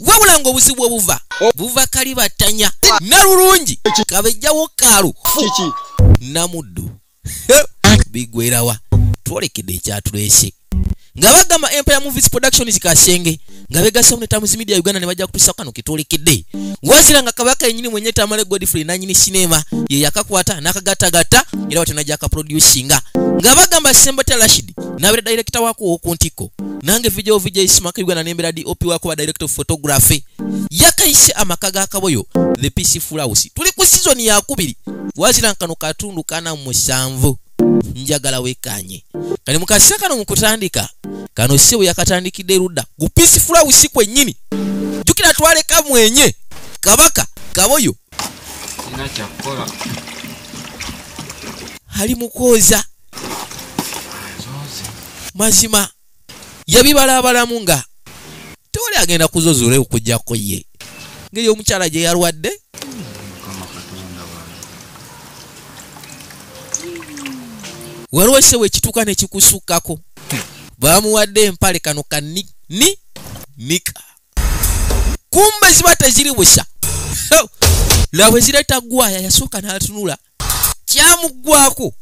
wabula ngaobuzibu obuva buva kalibattanya nalulungi kabejjawo kaalu namuddu bigwerawa twolekede ekyatulese nga bagamba empire movies production zikasenge nga begasamu ne tamuzi media uganda ne bajja kutusa kano kitolekede wazira nga kabaka yenyini mwenye tamale godfrey nanyini sinema ye yakakwata nakagattagatta era watenajja akaproducinga nga bagamba sembatya rashid nabera director wako woku ntiko nange video vijay smaka uganda nembera dop wako wa director of photography yakaise amaka ga kaboyo the peace fulawusi tuli ku season ya kubiri wazira nkano katundu kana musanvu njagala wekanye kali mukasa kano mukutandika kano sebo yakatandikide ruda ku peace fulawusi kwenyini jukira twale kamwenye kabaka kaboyo ina chakora hali mukoza mazima yabibalabalamu nga tewali agenda kuzozula okujjako ye ngeri omukyala gye yalwadde waliwo ekisewo ekituuka nekikusukkako bamuwadde empale kano ka ni ni nika kumbe ziba teziri busa laba ezireta gwaya yasooka n'atunula kyamuggwako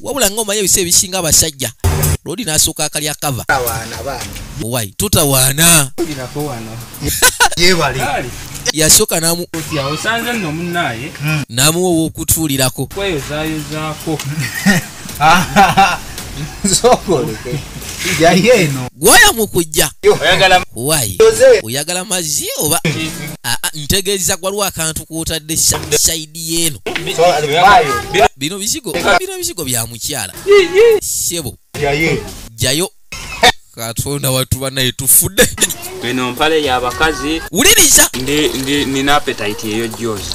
wabula nga omanyi ebisa ebisinga abasajja lodi nasooka akalya kava wai tutawaana yasooka namu namuwa owokutuulirako gwaya mukujja wai oyagala mazzi oba ntegeeza gwaliwo akantu kwotadde said yeeno bino bizigo bino bizigo bya mukyala sebo jayo katonda watu banaye tufudde eno mpale yabakazi wuliriza nina apetite eyo jozi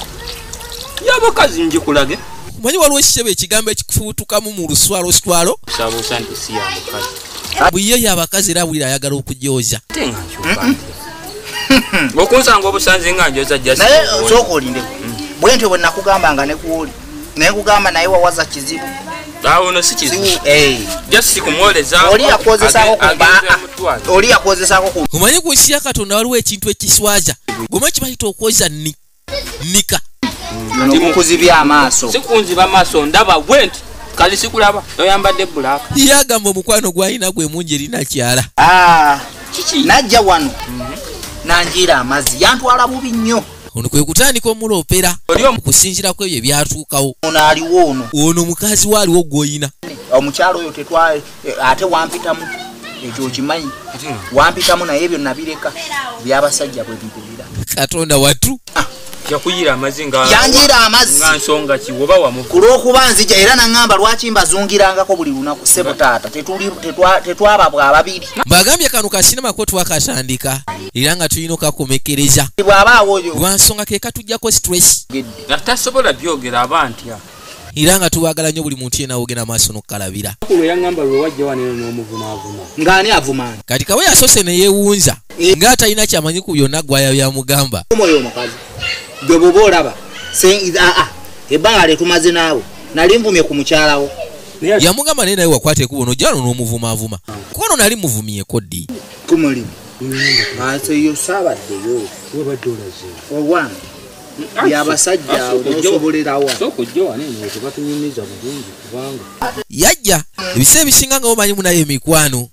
yabakazi njikulage omanyi waliwo ekisebo ekigambo ekikufubutukamu mu luswaloswalo buye yabakazi era bwira ayagala okujooza okunsanga obusanzi nga njoza naye osooka olindeko bwentyo bwe nakugamba nga nekuwoli naye kugamba naye wawaza kizibu awono si kizibu eh. just kumwoleza oli yakozesako oli yakozesako ku omanyi ku nsi ya katonda waliwo ekintu ekiswaza goma kibayita okwoza ni nika mukuzibya amaaso sikunziba amaaso ndaba bwenti kali sikulaba oyambadde black ye agamba omukwano gwalina gwe mungi erinakyala ah, najja wano mhm. nanjiira amazzi yantwala bubi nnyo ono kwe kutandika omuloopera okusinzira ku ebyo ebyatuukawo ono aliwo ono ono mukazi we aliwo gwoyina omukyalo oyo eh, ate wampitamu ekyo okimanyi wampitamu naye ebyo nabireka byabasajja bwe bibeera katonda watu ah. yakuyira amazi nga yanjira amazi nga nsonga ki oba wamu ku lw'okuba nzija era nangamba lwaki mbazungirangako buli lunaku sebo taata tetwaba bwa babiri bagambye kano kasinema ko twakatandika era nga tulina okakomekereza bw'aba awoyo lwa nsonga ke katujjako stress tasobola byogera aba ntya era nga tubagala nnyo buli muntu yena wogenda maaso nokukalabira kati kawe yasose neyewunza eh. nga atalina kyamanyi ku byonna gwaya byamugamba gwebuba olaba ah, ah, ebbanga lyetumaze naawe nali nvumye ku mukyalawo yamugamba naye naye wakwata ekubo nojalo nomuvumaavuma kuba no nali muvumyeko ddi kumulimu aseyo saabaddeyo webadde olaze owange yabasajja awo nosobolerawa yajja ebiseera ebisinga nga bomanyi munayo emikwano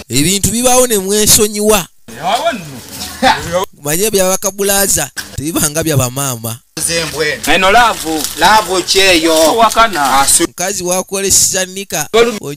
ebintu bibaawo ne mwesonyiwa manye byabakabulaza tebibanga byabamaama mukazi wakolesa nika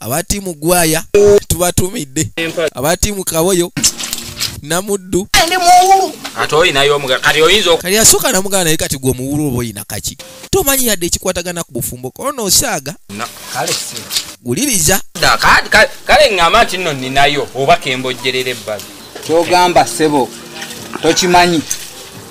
aba tiimu gwaya tubatumidde aba tiimu kaboyo namuddu kati yasooka namugana naye kati gwe omuwulu oba oyina kaki tomanyi yadde ekikwatagana ku bufumbo kono osaaga guliriza kale ngamba nti nno ninayo oba kembojjerera ebbali kyogamba sebo tokimanyi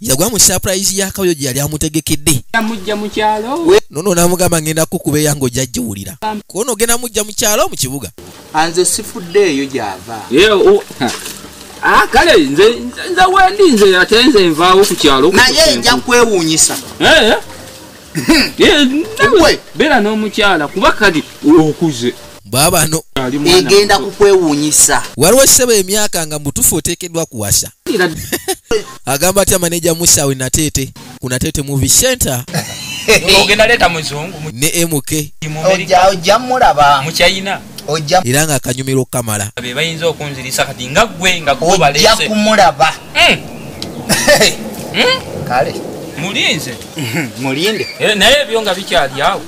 yagwa mu surprise ya kayo gye yali amutegekedde amujja mu kyalo nono namugamba ngenda kukuba eyange ojja giwulira kuono ogenda mujja mu kyalo mu kibuga anze sifudde eyo gyava ah, kale nze wendi nze ate nze nvaawo ku kyalo naye nja kwewuunyisa eh, eh. eh, beera n'omukyala kuba kati okuze bwabano egenda kukwewunyisa waliwo ekisebo emyaka nga mutufu oteekeddwa kuwasa agamba atya maneja musawe nateete ku nateete movie center ne mk ojja mulaba mukyayina ojja era nga akanyumira okukamala be bayinza okunzirisa kati nga gwe nga kubalese ojja kumulaba hmm. Hmm? kale mulinze mulinde eh, naye ebyo nga bikyali awo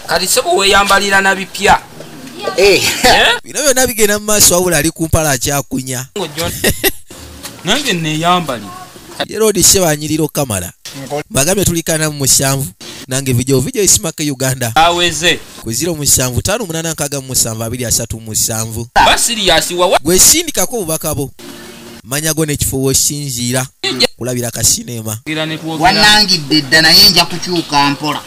kati sebo weyambalira na bipya eh. Eh? bino byonna bigenda mu maaso wabula ali kumpala akyakunya nange neyambali yerodi sebanyirira okamala bagambye tulikana mu musanvu nange vidio vidio isimaka uganda aweze kwezira omusanvu tano omunana nkaga mu musanvu abiri asatu musanvu basiriyasiwawa gwesindikako obubaka bo manya go nekifo wosinziira kulabira ka sinema wanangidde dda naye nja kukyuka mpola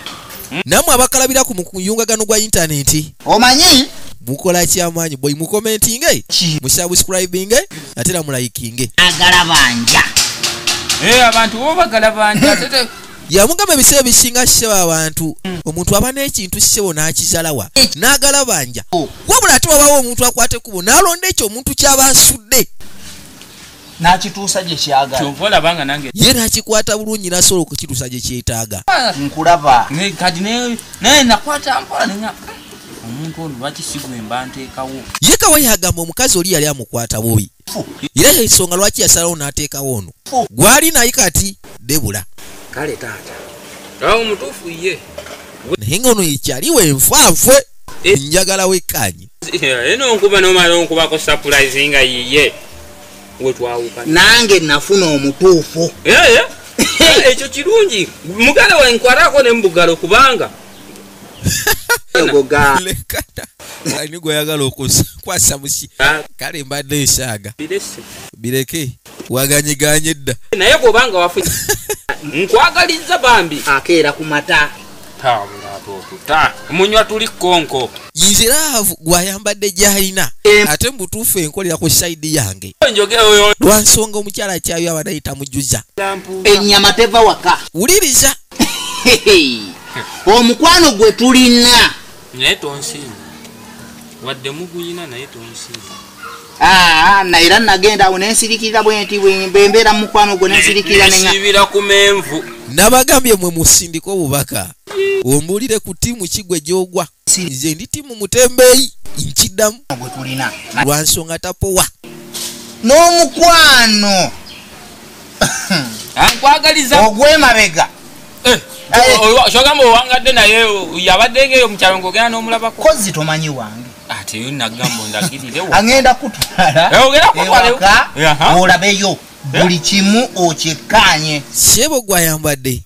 hmm? namwe abakalabira ku muyungagano gwa intaneti omanyi mukola kyamaanyi boy mukomentinge musubscribinge ate era mulayikinge agala banja eh, abantu bo bagala banja yamugamba ebiseera bisinga ssebo abantu omuntu aba n'ekintu ssebo n'akizalawa n'agalabanja wabula ate wabawo omuntu akwata ekkubo n'alonda ekyo omuntu kyaba asudde nakituusa gye kyagalaye nakikwata bulungi nasobola okukituusa gye kyetaaga ah, nkulaba kati naye nakwata mpola nenya omuntu ono lwaki sigwemba nteekawo ye kawa yagamba omukazi oli yali amukwata bubi era yensonga lwaki yasalawo n'ateekawo ono gwali naye kati debula kale taata awo mutuufu ye naye nga ono yekyali wenfaafwe eh. njagala wekkaanye eno eh, nkuba nomala onkubako sapulayizi nga yiye wetwawuka nange nafuna omutuufu eh, ekyo kirungi mugala wenkwarako ne mubugalo kubanga lekana ani gweyagala okukwasa musi kale mbadde nsaaga bireke waganyiganye edda naye bwobanga wafu nkwagaliza bambi akeera ku mata munywa tuli konko yiziraavu gwayambadde gyalina ate mubutuufu enkolera ku saidi yange lwansonga omukyala kyayo abanayita mujuza enyama teva waka wuliriza omukwano gwe tulina naye tonsinza wadde muguyina naye tonsinza Ah, na era nagenda awo nensirikirira bwenti bwembeera mu mukwano gwo nensirikirira ku menvu nabagambye mwe musindika obubaka ombuulire ku tiimu kigwe gyogwa nze ndi timu mutembeeyi nkiddamu gwetulina lwa nsonga tapowa n'omukwano nkwagaliza ogwemabega eh, kyogamba owangadde naye yabadde ngeeyo mukyalo ngaogenda n'omulabako kozi tomanyi wange ateyo nagamba ondagirirewo agenda kutwalaolabeyo eh, eh, buli kimu okyekkaanye sebo gwayambadde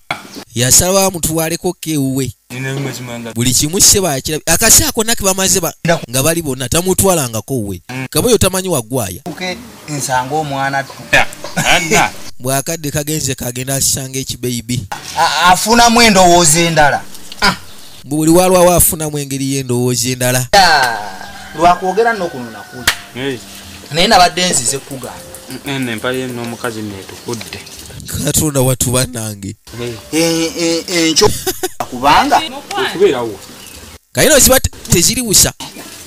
yasalawo amutwaleko kewuwe buli kimu sebaakira akasi ako nake bamaze nga bali bonna tamutwalangako we kaba oyo tamanyi wagwaya nsanga omwana bwakadde kagenze kagenda asanga ekibeibi afunamu endowooza endala ah. buli walwawo afunamu engeri y'endowooza endala lwakwogera nokunonakuli naye nabadde nzize kugamba nempalye nomukazi netukudde katonda watu banange enkyo kubanga okubeerawo kaye no ziba teziriwusa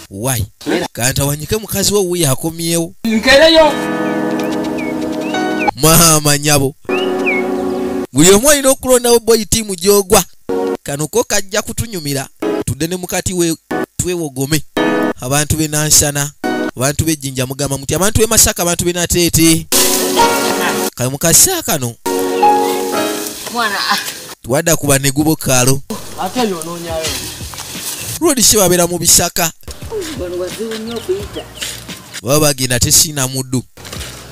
why kantawanyike mukazi wo wuyo akomyewo nkereyo maama nyabo buli omu olina okulondawo boyi tiimu gyogwa kano ko kajja kutunyumira tudde ne mukati we twewogome abantu be nansana abantu be jinja mugamba muti abantu be masaka abantu be natete kale mukasa kano mwana ah. twada kuba ne gubo kalo ate yo nonyayo rodi shiba bera mu bisaka bano wazibu nyo kuita baba gina tesina mudu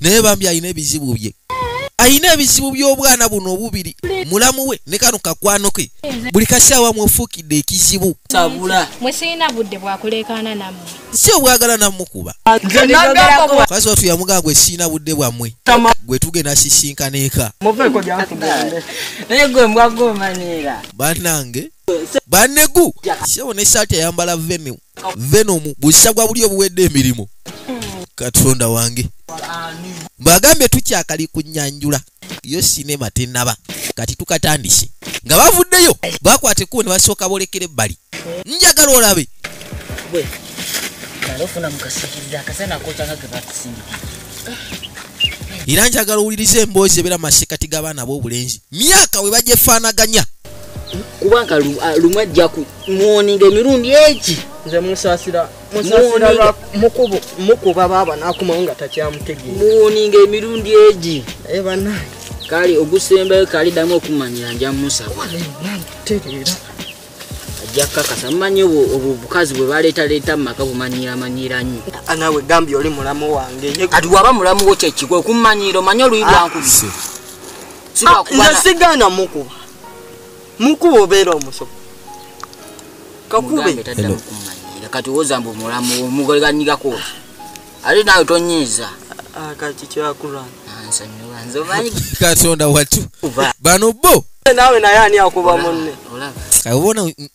naye bambi alina ebizibu bye alina ebizibu by'obwana buno obubiri mulamu we ne kano kakwano ke buli kasaawa mwefuukidde ekizibu si obwagala namukuba kasi watu yamugamba gwe siina budde bwammwe gwe tugenda sisinkana eka banange banegu sebo ne saati ayambala venue venom busa gwa buli obuwedde emirimu katonda wange mbagambye tukyakali kunyanjula yo sinema tenaba kati tukatandise nga bavuddeyo bakwata ekkubo ne basooka bolekera ebbali njagala olabe era njagala owuliriza emboozi ebeera masekati g'abaana b'obulenzi myaka we bagyefaanaganya kubanga ah, lumu ajja ku muwoninga emirundi egi nze musasira musasira mukubo mukuba baba nakumawo nga takyamutegeera muwoninga emirundi egi naye eh, banange kale ogusembayo kali damu okumanyira nja musaba tereera ajja kukakasa mumanyi obukazi bwe baleetaleeta mu maka bumanyiramanyira nnyo ah, nawe gambye oli mulamu wange kati waba mulamu wo kyekikwe okummanyiira omanye oluyi lwankubi ah, Ah, nze sigana mukuba mukuba obeera omusomo kakube kati woza mbu mulamu omugoleganyigako ate naawe tonyiiza ah, kati kyakulwana ah, katonda watu bano bo naawe naye ani akuba munne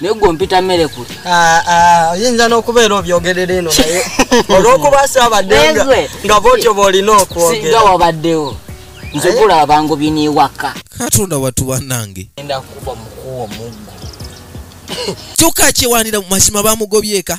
naye gwe ompita mmere kuli ah, ah, oyinza n'okubeera obyogerera eno naye olw'okuba saabadde nga bwotyo bw'olina okwogera wabaddewo nze gula abangu biniwaka katonda watu banange enda kuba mukuwa omuggo kyokka kyewanira mu mazima bamugobyeka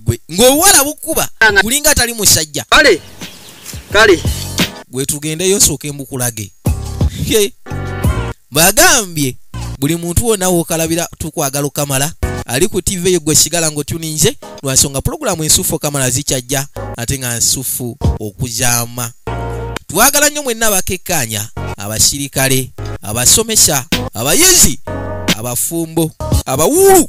gwe ng'obuwala bukuba kulinga atali musajja kale kale gwe tugendeyo osooke mbukulage bagambye buli muntu wona wokalabira tukwagala okamala ali ku tv eyo gwe sigala ngaotuninze lwansonga pulogulaamu ensufu okamala zikyajja ate nga nsufu okuzaama twagala nnyo mwenna abakekkaanya abasirikale abasomesa abayizi abafumbo abawuulu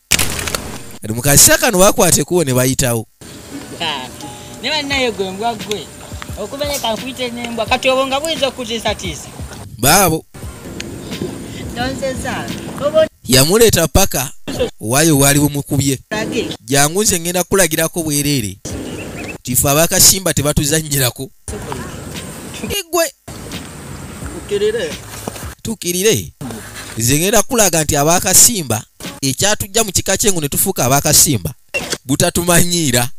kati mukasisa kano bakwate kuwo ne bayitawo ne bannaye gwe mbwa gwe okubere kankuyite nembwa kati obwo nga buyinza okutiisatiisa baabo yamuleeta paka waayo waali bumukubye jangu nze ngenda kukulagirako bwereere tife abakasimba tebatuzanyirako igwe tukirire nze ngenda kulaga nti abakasimba ekyatujja mu kika kyengu ne tufuuka abakasimba butatumanyiira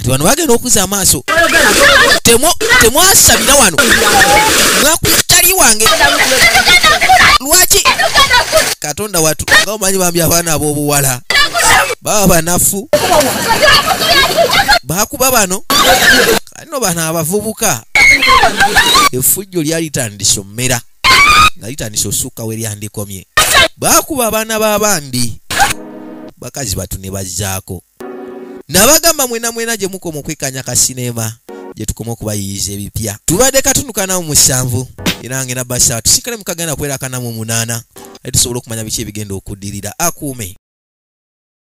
kati bano bagenda okuza amaaso temwasabira wano mwakutali wange lwaki katonda watu nga omanyi bambi abaana ab'obuwala baba banafu bakuba bano kano bano abavubuka efujjo lyalitandise omumera nga litandise osukka we lyandikomye bakuba abaana b'abandi bakazi batu ne bazzaako nabagamba mwena mwena gye mukoma okwekanya ka sinema gye tukoma okubayiyiza ebipya tubadde katunukanamu musanvu era nga ena basa tusikale mukagenda kwerakanamu omunaana ali tusobola okumanya biki ebigenda okuddirira akuume